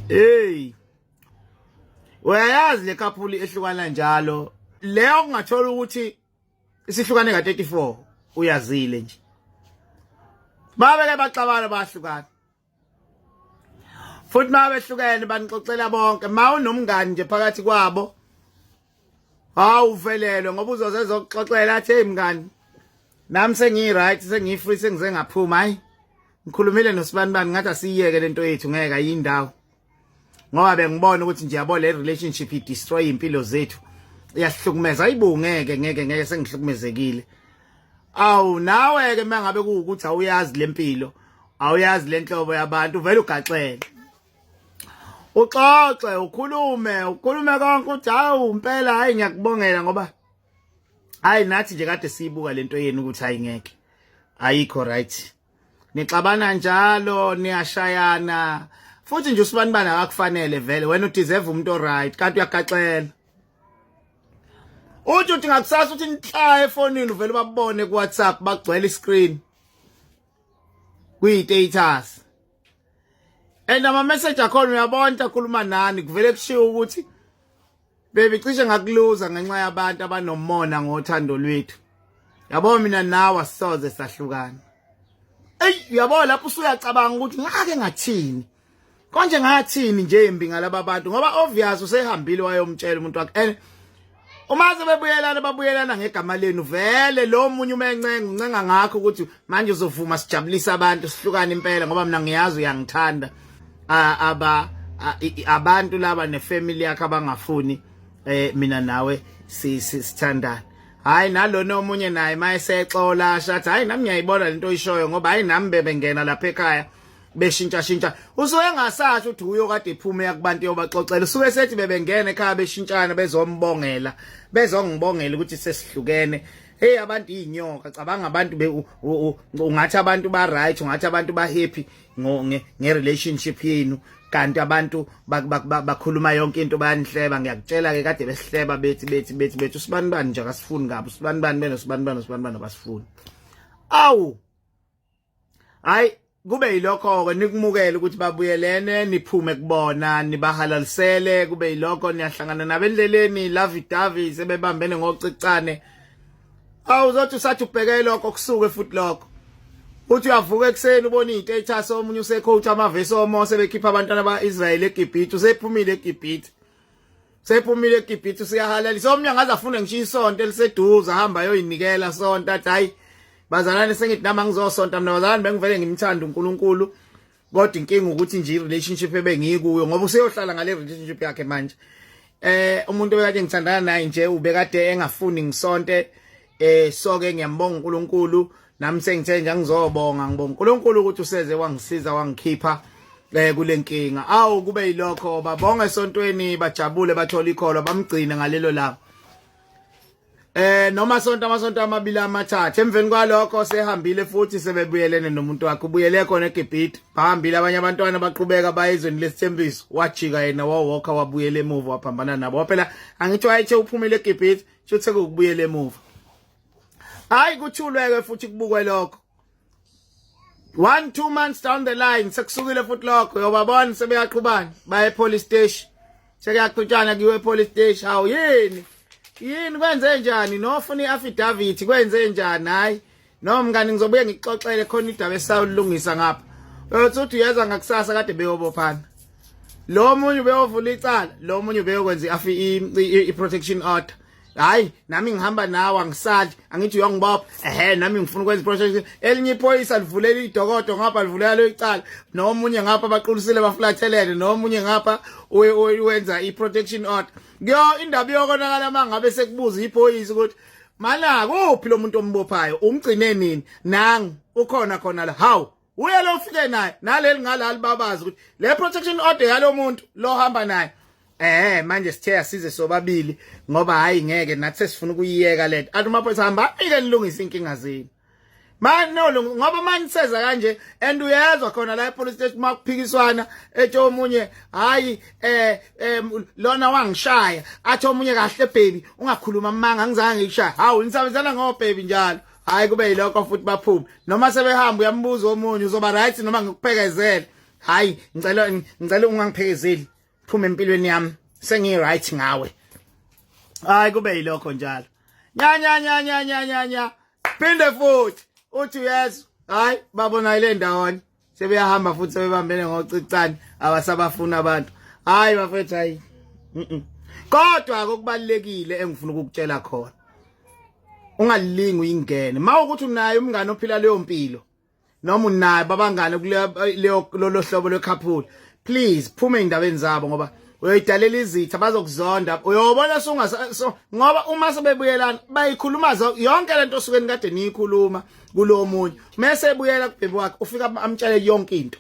hey uyayazi le kaphuli ehlukana njalo leyo kungathola ukuthi isihlukane ka 34 uyazile nje babeke baxabana bahlukana futhi mabehlukene banixoxela bonke ma unomngani nje phakathi kwabo hawu uvelelwe ngoba uzoze ezokuxoxela athi hey mngani nami sengiyi-right sengiyi-free sengize ngaphuma hayi ngikhulumile nosibani bani ngathi asiyiyeke le nto yethu ngeke ayiyindawo ngoba bengibona ukuthi nje yabo le relationship idestroy impilo zethu iyasihlukumeza ayibungeke ngeke ngeke sengihlukumezekile awu nawe ke mangabe kuwukuthi awuyazi lempilo awuyazi lenhlobo yabantu vele ugaxele uxoxe ukhulume ukhulume konke uthi hawu impela hayi ngiyakubongela ngoba hayi nathi nje kade siyibuka lento yenu ukuthi hayi ngeke ayikho right nixabana njalo niyashayana futhi nje usibani bana akakufanele vele wena udeserve umuntu oright kanti uyagaxela uthi uthi ngakusasa uthi nihla efonini uvele babone ku WhatsApp bagcwele iscreen kuyi status and ama message akhona uyabona akhuluma nani kuvele kushiwo ukuthi baby cishe ngakuluza ngenxa yabantu abanomona ngothando lwethu yabo mina nawe asisoze sahlukana eyi uyabo lapho usuyacabanga ukuthi ngake ngathini konje ngathini nje imbi ngalaba bantu ngoba obvious usehambile wayomtshela umuntu wakhe uma sebebuyelana babuyelana ngegama lenu vele lo munye uma encenga uncenga ngakho ukuthi manje uzovuma sijabulisa abantu sihlukane impela ngoba mina ngiyazi uyangithanda aba abantu laba nefamily yakhe abangafuni eh mina nawe sithandana hayi nalona omunye naye mayesexola shathi hayi nami ngiyayibona lento oyishoyo ngoba hayi nami bebengena lapha ekhaya beshintsha shintsha usuke engasathi uthi uyo kade iphume yakubantu yobaxoxela usuke sethi bebengena ekhaya beshintshana bezombongela bezongibongela ukuthi sesihlukene hey abantu inyoka cabanga abantu ungathi abantu ba right ungathi abantu ba happy nge relationship yenu kanti abantu bakhuluma yonke into bayanihleba ngiyakutshela ke kade besihleba bethi bethi bethi bethi usibani bani nje akasifuni kabi usibani bani beno sibani bani usibani bani abasifuni awu hayi kube yilokho-ke nikumukele ukuthi babuyelene niphume kubona nibahalalisele kube yilokho niyahlangana nabo endleleni lavidavi sebebambene ngocicane awu uzothi usathi ubheke lokho kusuke futhi lokho uthi uyavuka ekuseni ubona iy'ntatasi omunye usecoach amavesi omose bekhipha abantwana ba-israyeli egibhithe usephumile egibhithe sephumile eGibhithe useyahalalisa omnye angaze afune ngisho isonto eliseduze ahamba ayoyinikela sonto athi hayi bazalwane sengithi nami angizosonta mina bazalwane bengivele ngimthanda uNkulunkulu kodwa inkinga ukuthi nje relationship ebengikuyo ngoba useyohlala ngale relationship yakhe manje eh umuntu obekade ngithandana naye nje ubekade engafuni ngisonte eh so ke ngiyambonga uNkulunkulu nami sengithe nje ngizobonga ngibonga uNkulunkulu ukuthi useze wangisiza wangikhipha eh kulenkinga awu kube yilokho babonga esontweni bajabule bathola ikholo bamgcine ngalelo langa eh noma sonto amasonto amabili amathathu emveni kwalokho sehambile futhi sebebuyelene nomuntu wakhe ubuyele khona eGibhithe bahambile abanye abantwana baqhubeka bayezweni lesithembiso wajika yena wawalker wabuyela emuva waphambana nabo phela angithi wayethe uphumile eGibhithe Shuthe ukubuyela emuva. Hayi kuthuleke futhi kubukwe lokho. One two months down the line sekusukile futhi lokho yobabona sebeyaqhubana baye police station. Sekuyaqhutshana kuwe police station. Hawu yini? Yini kwenze njani? Nofuna iaffidavit kwenze njani? Hayi No mngani ngizobuye ngikuxoxele khona idaba esawulungisa ngapha. Uyothi uthi uyeza ngakusasa kade beyobophana. Lo munye ubeyovula icala, lo munye ubeyokwenza afi i protection order. Hayi nami ngihamba nawe angisali angithi uyongibopha ehe nami ngifuna ukwenza iproject elinye iphoyisa livulela idokodo ngapha livulela lo icala nomunye ngapha baqulisile baflathelele nomunye ngapha wenza iprotection order kuyo indaba yokonakala mangabe sekubuza iphoyisa ukuthi Malaka uphi lo muntu ombophayo umgcine nini nangu ukhona khona la hawu uye lo ufike naye naleli ngala libabaza ukuthi le protection order yalo muntu lo hamba naye eh manje sithe asize sobabili ngoba hayi ngeke nathi sesifuna ukuyiyeka lento athi maphoyisa hamba ike nilungise inkinga zenu manje no ngoba manje seza kanje and uyezwa khona la epolice station makuphikiswana ethi omunye hayi eh lona wangishaya athi omunye kahle baby ungakhuluma amanga ngizange ngikushaya hawu nisabenzana ngo baby njalo hayi kube yilokho futhi baphume noma sebehamba uyambuza omunye uzoba right noma ngikuphekezele hayi ngicela ngicela ungangiphekezeli phuma empilweni yami sengi right ngawe hayi kube yilokho njalo nya nya nya nya nya nya nya phinde futhi uthi uyezwa hayi babona ile ndawonye sebeyahamba futhi sebebambene ngocicane abasabafuna abantu hayi bafethu hayi kodwa kokubalekile engifuna ukukutshela khona ungalilingi uyingene mawukuthi unaye umngane ophila leyo mpilo noma unaye babangane kuleyo lolo hlobo lwekhaphuli please phume endaweni zabo ngoba uyoyidalela izitha bazokuzonda uyobona sungasa so, ngoba uma sebebuyelana bayikhuluma yonke lento osuke nikade niyikhuluma kulo munye mase ebuyela kubhebi wakhe ufika amtshele yonke into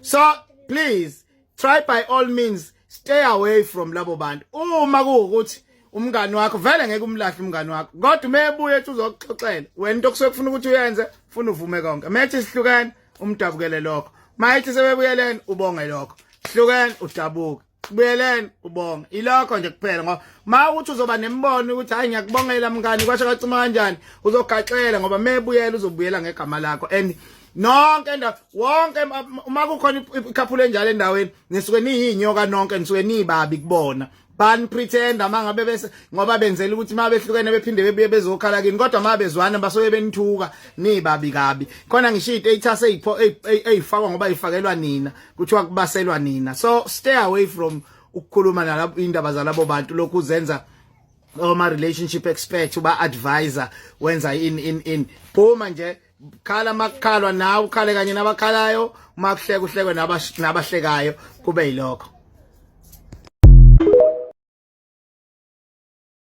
so please try by all means stay away from labo bantu uma kuwukuthi umngani wakho vele ngeke umlahle umngani wakho kodwa umebuye ethi uzokuxoxela wena into okusuke kufuna ukuthi uyenze funa uvume konke methi sihlukene umdabukele lokho mayithi sebebuyelene ubonge lokho sihlukene udabuke kubuyeleni ubonga ilokho nje kuphela ngoba ma uthi uzoba nembono ukuthi hayi ngiyakubongela mngani kwasho kacima kanjani uzogaxela ngoba mebuyela uzobuyela ngegama lakho and nonke endawo wonke uma kukhona ikhaphulo enjalo endaweni nisuke niyinyoka nonke nisuke nibabi kubona ban pretender mangabe bese ngoba benzela ukuthi uma behlukene bephinde bebuye bezokhala kini kodwa uma bezwana basoye benithuka nibabi kabi khona ngisho idata seyipho eyifakwa ngoba ifakelwa nina kuthiwa kubaselwa nina so stay away from ukukhuluma nalabo indaba zalabo bantu lokhu uzenza oma relationship expert uba advisor wenza in in in phuma nje khala makukhalwa nawe ukhale kanye nabakhalayo uma kuhleka uhlekwe nabahlekayo kube yilokho